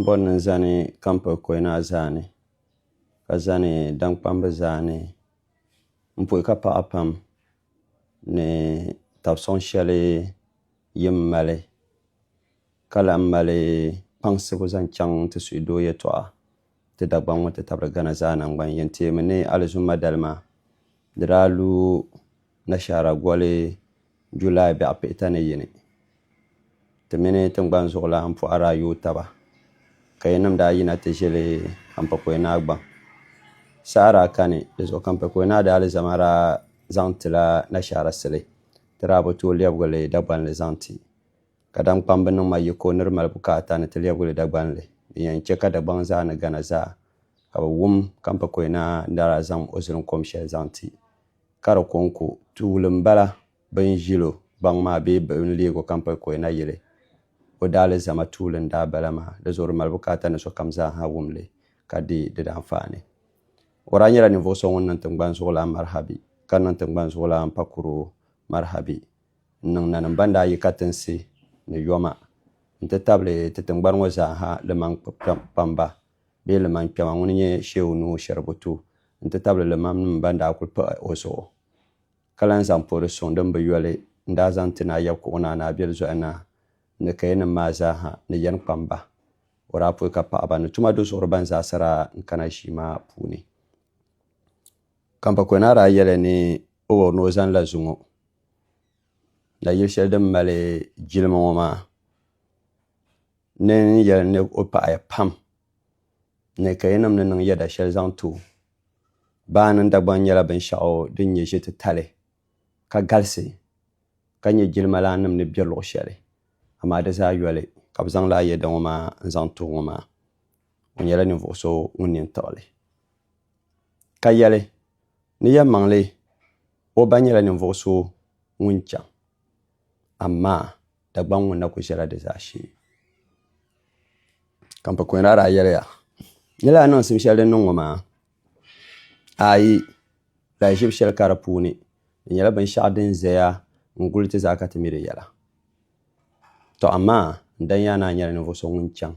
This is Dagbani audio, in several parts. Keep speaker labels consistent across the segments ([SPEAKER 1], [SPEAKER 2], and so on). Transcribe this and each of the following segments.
[SPEAKER 1] Bɔ ni zani kampiri kɔyina zaa ni, ka zani daŋkpambi zaa ni m pɔi ka paɣa pam ni tab sɔŋ shɛli yim mali, ka lahi mali kpaŋsibu zaŋ chaŋ n ti suhi doo yɛtɔɣa ti Dagbaŋ ŋɔ ti tabiri Ghana zaa naŋgban yɛn teemi ni Alizumma dali maa di daa lu Nashaara goli July bɛɣu pihita ni yini, ti mini tiŋgbani zuɣulan pɔɣa daa yooi taba, ka yinim daa yina ti ʒili Kampakɔi Naa gbaŋ. Saha daa kani di zuɣu Kampakɔi Naa daa alizama daa zaŋ ti la Nashaara sili, ti daa bi tooi lɛbigi li Dagbanli zaŋ ti. Kadam kpambu niŋ ma yiko ni di mali bukaata ni ti lɛbigi li Dagbanli, din yɛn chɛ ka Dagbaŋ zaa ni Ghana zaa ka bɛ wum Kampakɔi Naa ni daa zaŋ o zilinkom shɛli zaŋ ti. ka di kɔŋko tuuli m-bala bɛ ni ʒil o gbaŋ maa bee bɛ ni leeg o Kampalikoya na yili o daalizama tuuli n-daa bala maa. Di zuɣu di mali bukaata ni sokam zaa ha wum li ka deei di daanfaani. O daa nyɛla ninvuɣ so ŋun niŋ tiŋgbani zuɣulan marihabi, ka niŋ tiŋgbani zuɣulan pakuro marihabi n-niŋ nanim bɛn daa yi katinsi ni yoma nti tabili ti tiŋgbani ŋɔ zaa ha limaŋ kpamba bee limankpɛma ŋun nyɛ Shehu Nuhu Sheribu tu n-ti tabili limamnim ban daa kuli pahi o zuɣu ka lan zaŋ poori suŋ din bi yoli n-daa zaŋ ti Naa Yɛbkuɣu Naa Naa Biɛli Zoya Naa ni kayanim maa zaa ha ni yɛn kpam ba. O daa pui ka paɣiba ni tuma duzuɣuri ban zaasa daa n-kana ʒii maa puuni. Kampakoya Naa daa yɛli ni o wuhiri ni o zani la zuŋɔ na yili shɛli din mali jilima ŋɔ maa. Ni n yɛli ni o paɣi ya pam ni ka yinim ni niŋ yɛda shɛli zaŋ ti o. Baa mini Dagbaŋ nyɛla binshɛɣu din nyɛ ʒititali ka galisi ka nyɛ jilimalaanim ni bɛ luɣ shɛli, amaa di zaa yoli ka bɛ zaŋ laa yɛda ŋɔ maa n-zaŋ ti o ŋɔ maa. O nyɛla ninvuɣ so ŋun nini tiɣi li. Ka yɛli, Ni yɛlimaŋli o ba nyɛla ninvuɣ so ŋun chaŋ, amaa Dagbaŋ ŋun na ku ʒɛla di zaashee. Ka n pa kɔŋ rara yɛliya ni lahi niŋsim shɛli din niŋ ŋɔ maa ayi lahi ʒibu shɛli ka di puuni di nyɛla binshɛɣu din ʒɛya n guli ti zaa ka ti mi di yɛla to amaa n dani yaa ni a nyɛla ninvuɣu so ŋun chaŋ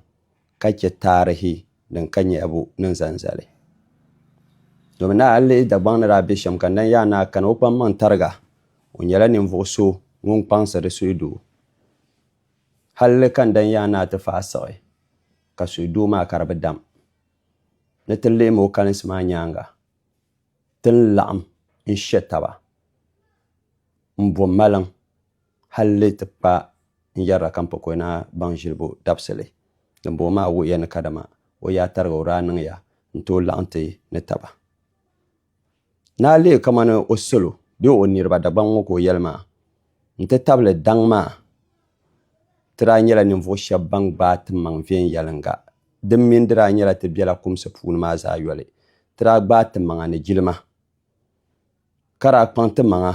[SPEAKER 1] ka chɛ taarihi din ka nyahibu ni n zaŋ zali. Domin ni a yi lihi Dagbaŋ ni daa be shɛm ka Ndan Yaa Naa kani o kpaŋ maŋ tariga, o nyɛla ninvuɣ so ŋun kpaŋsiri suhudoo. Halli ka Ndan Yaa Naa ti fahi siɣi ka suhudoo maa ka di bi dam. Ni ti lihimi o kalinsi maa nyaaŋa, ti ni laɣim n-she taba m-bo maliŋ. halli ti kpa n yɛrila ka m pa Koyina baŋ ʒilibu dabisili din booi maa wuhiya ni kadama o yaa tariga o daa niŋya n tooi laɣim ti ni taba ni a leei kamani o salo bee o niriba Dagbaŋ ŋɔ ka o yɛli maa n ti tabili daŋ maa ti daa nyɛla ninvuɣ shɛb ban gbaai timaŋ viɛnyɛliŋga din mini di daa nyɛla ti bela kumsi puuni maa zaa yoli ti daa gbaai timaŋa ni jilima ka daa kpaŋ timaŋa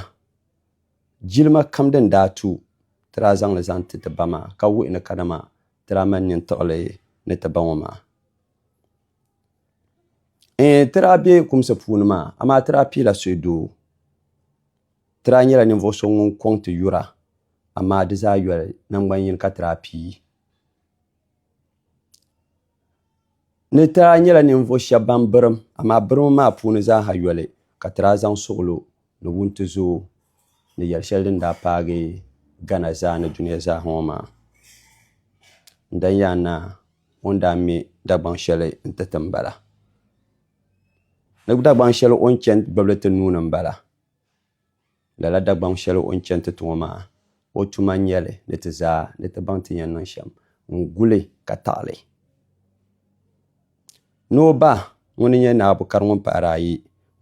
[SPEAKER 1] Jilima kam din daa tu, ti daa zaŋ li zaŋ ti ti ba maa, ka wuhi ni kadama ti daa mali nintuɣili ni ti ba ŋɔ maa. Ɛɛn, ti daa be kumsi puuni maa, amaa ti daa piila suhi doo. Ti daa nyɛla ninvuɣ so ŋun kɔŋ ti yura, amaa di zaa yoli naŋgban yini ka ti daa pii. Ni taa nyɛla ninvuɣ shɛb bɛn birim, amaa birimbu maa puuni zaaha yoli ka ti daa zaŋ suɣilo ni wuntizoo ni yɛl shɛli din daa paagi Ghana zaa ni dunia zaa ŋɔ maa. N dan yɛn naa o ni daa me Dagbaŋ shɛli nti ti m-bala. Di Dagbaŋ shɛli o ni chani gbibili ti nuu ni m-bala. Lala Dagbaŋ shɛli o ni chani ti ti ŋɔ maa, o tuma n-nyɛ li ni ti zaa ni ti baŋ ti ni yɛn niŋ shɛm n-guli ka taɣi li. Ni o ba ŋuni n-nyɛ Naa Bukari ŋun pahiri ayi,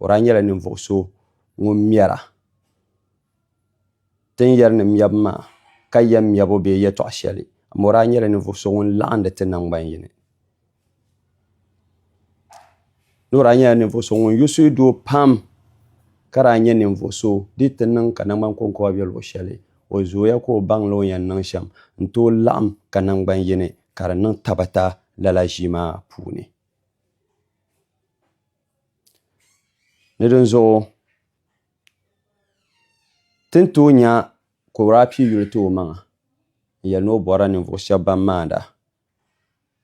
[SPEAKER 1] o daa nyɛla ninvuɣ so ŋun mɛra ti ni yɛri ni mɛbu maa ka yɛm mɛbu bee yɛtɔɣ shɛli, amaa o daa nyɛla ninvuɣ so ŋun laɣindi ti naŋgban yini. Loori daa nyɛla ninvuɣu so ŋun yuusi doo pam ka daa nyɛ ninvuɣu so di yi ti niŋ ka nangbani konkoba bɛ luɣu shɛli o zooya ka o baŋla o ni yɛn niŋ shɛm n tooi laɣam ka nangbani yini ka di niŋ tabata lala ʒii maa puuni ni dinzuɣu ti ni tooi nya ka o daa pii yuli ti o maŋa n yɛli ni o borila ninvuɣu shab ban maanda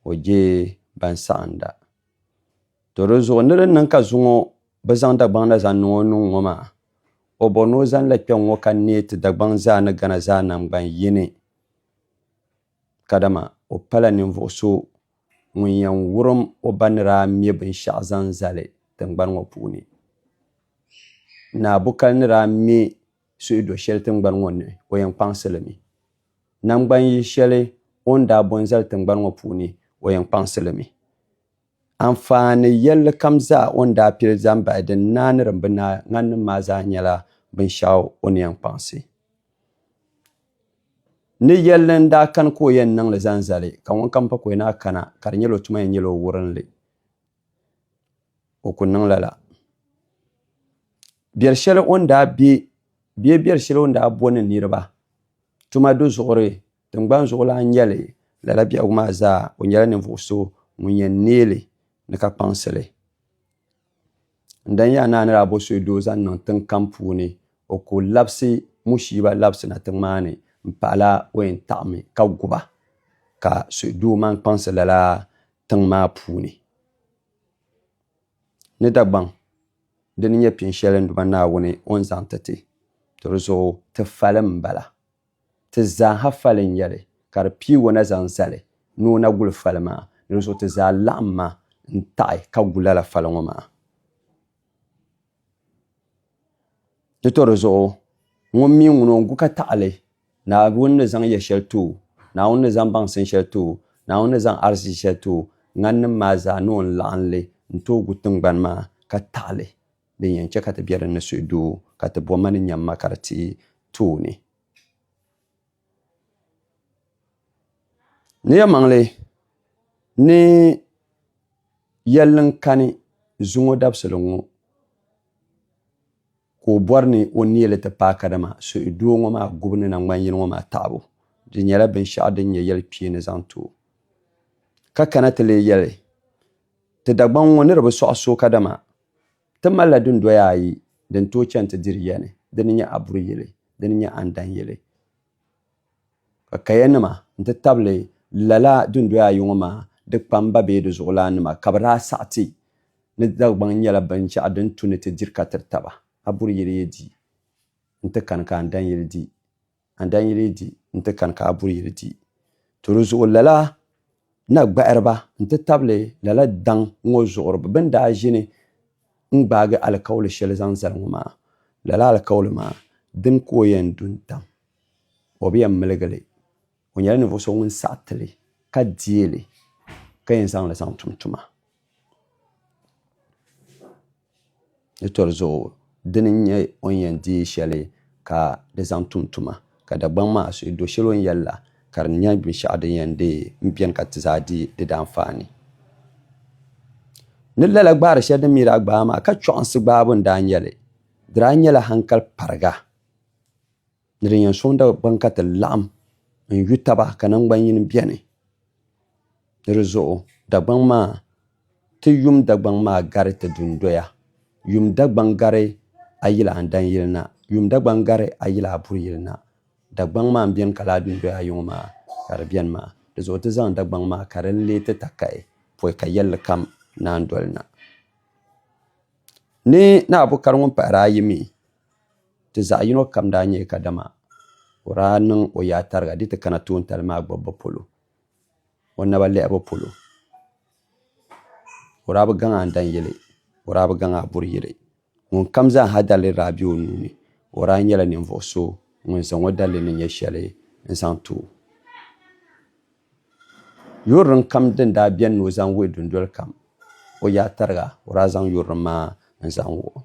[SPEAKER 1] o je ban saɣinda. To di zuɣu ni di niŋ ka zuŋɔ bi zaŋ Dagbaŋ na zaŋ niŋ o nuŋ ŋɔ maa, o bɔri ni o zanila kpɛŋ ŋɔ ka neei ti Dagbaŋ zaa ni Ghana zaa namgban yini. Kadama o pala ninvuɣ so ŋun yɛn wurim o ba ni daa me binshɛɣu zaŋ zali tiŋgbani ŋɔ puuni. Naa Bukal ni daa me suhi do shɛli tiŋgbani ŋɔ ni o yɛn kpaŋsi li mi. Naŋgban yihi shɛli o ni daa bo n-zali tiŋgbani ŋɔ puuni o yɛn kpaŋsi li mi. Anfaani yɛlli kam zaa o ni daa pili zaŋ bahi din naai ni din bi naai ŋaninim maa zaa nyɛla binshɛɣu o ni yɛn kpaŋsi. Ni yɛlli n-daa kani ka o yɛn niŋ li zaŋ zali, ka ŋunkam pa ka o yɛn a kana, ka di nyɛla o tuma yɛn nyɛla o wurinli. O ku niŋ lala. Biɛri shɛli o ni daa be bee biɛri shɛli o ni daa bo ni niriba tuma do zuɣuri tiŋgbani zuɣulan nyɛli lala biɛhigu maa zaa. O nyɛla ninvuɣ so ŋun yɛn neeli ni ka kpaŋsi li. N dan yaa naa ni daa bo so doo zaŋ niŋ tiŋ kam puuni, o ku labisi Mushiiba labisina tiŋ maa ni m-pahala o yɛn taɣimi ka gu ba, ka suhudoo mani kpaŋsi lala tiŋ maa puuni ni Dagbaŋ di ni nyɛ pini shɛli n Duuma Naawuni o ni zaŋ ti ti to di zuɣu ti fali n bala. Ti zaaha fali n nyɛli ka di pii o na zaŋ zali ni o na guli fali maa ni di zuɣu ti zaa laɣim ma n taɣi ka gu lala fali ŋɔ maa. Di to di zuɣu, ŋun mi ŋun o gu ka taɣili, Naawuni ni zaŋ yɛ shɛli ti o, Naawuni ni zaŋ baŋsim shɛli ti o, Naawuni ni zaŋ arzichi shɛli ti o, ŋaninim maa zaa ni o ni laɣim li n-tooi gu tiŋgbani maa ka taɣili, din yɛn chɛ ka ti be din ni suhudoo, ka ti bo ma ni nyamma ka di tihi tooni. Niɛmaŋli ni yɛlli n kani zuŋɔ dabisili ŋɔ ka o bɔri ni o neei li ti paai kadama suhi doo ŋɔ maa gubu ni na ŋmani yili ŋɔ maa taɣibu di nyɛla binshɛɣu din nyɛ yɛlikpeeni zaŋ ti o ka kana ti leei yɛli ti Dagbaŋ ŋɔ ni di bi sɔɣi so kadama Ti malila dundoya ayi din tooi chani ti diri ya ni, di ni nyɛ Aburi yili, di ni nyɛ Andan yili. Ka kaya nima n-ti tabili lala dundoya ayi ŋɔ maa di kpamba bee di zuɣulan nima ka bɛ daa saɣi ti ni Dagbaŋ nyɛla binshɛɣu din tu ni ti diri ka tiri taba. Aburi yili yi di n-ti kani ka Andan yili di. a ni daa nyi leei di nti kani ka a buri yili di. To di zuɣu lala na gbahiriba nti tabili lala daŋ ŋɔ zuɣuriba bɛn daa ʒini n-gbaagi alikauli shɛli zaŋ zali ŋɔ maa, lala alikauli maa dini ka o yɛn du n-tam, o bi yɛn miligi li. O nyɛla ninvuɣ so ŋun saɣi ti li ka deei li ka yɛn zaŋ li zaŋ tum tuma. Di tɔri zuɣu, dini n-nyɛ o ni yɛn deei shɛli ka di zaŋ tum tuma, ka Dagbaŋ maa suhi do shɛli o ni yɛli la, ka di nyɛ binshɛɣu din yɛn deei beni ka ti zaa di di daanfaani. Ni lala gbaari shɛli din mi daa gbaai maa, ka chɔɣinsi gbaabu n-daa nyɛ li, di daa nyɛla hankali pariga. Ni din yɛn sɔŋ Dagbaŋ ka ti laɣim n-yu taba ka naŋgbanyin beni. Ni di zuɣu Dagbaŋ maa, ti yum Dagbaŋ maa gari ti dundoya. Yum Dagbaŋ gari a yili a ni dan yili na. Yum Dagbaŋ gari a yili a buri yili na. Dagbaŋ maa m-beni ka laa dundoya yiŋɔ maa ka di beni maa. Di zuɣu ti zaŋ Dagbaŋ maa ka di leei ti takahi pɔi ka yɛlli kam naan doli na. Ni ni a bukari ŋun pahiri ayi mi, Ti zaɣ yino kam daa nyɛya kadama o daa niŋ o yaa tariga di ti kana toontali maa gbibbu polo, o naba lɛhibu polo. O daa bi gaŋ a daŋ yili, o daa bi gaŋ a buri yili. Ŋun kam zaa ha daliri daa be o nuu ni. O daa nyɛla ninvuɣ so ŋun zaŋ o dalili ni nyɛ shɛli n-zaŋ ti o. Yurilim kam din daa beni ni o zaŋ wuhi dundoli kam o yaa tariga, o daa zaŋ yurilim maa n-zaŋ wuhi o.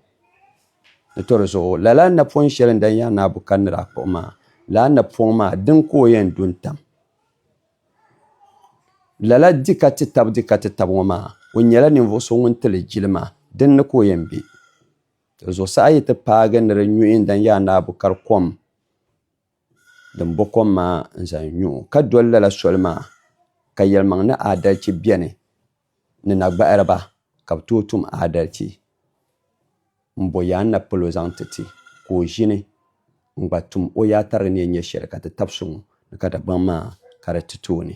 [SPEAKER 1] Di tɔri zuɣu, lala napɔŋ shɛli n daa yaai naabu ka ni daa kpuɣi maa, lala napɔŋ maa dini ka o yɛn du n-tam lala di ka ti tab di ka ti tab ŋɔ maa? O nyɛla ninvuɣ so ŋun ti li jili maa, dini ni ka o yɛn be? Tɔ zuɣusaa yi ti paagi ni di nyuhi n daa yaai naabu ka di kom din bo kom maa n-zaŋ nyu o, ka doli lala soli maa ka yɛlimaŋ ni aadalichi beni ni na gbahiri ba ka bɛ tooi tum aadalichi m-bo yaa n-na pal o zaŋ ti ti, ka o ʒini n-gba tum o yaa tarigi ni yɛn nyɛ shɛli ka ti tab so ŋun ni ka Dagbaŋ maa ka di ti tooni.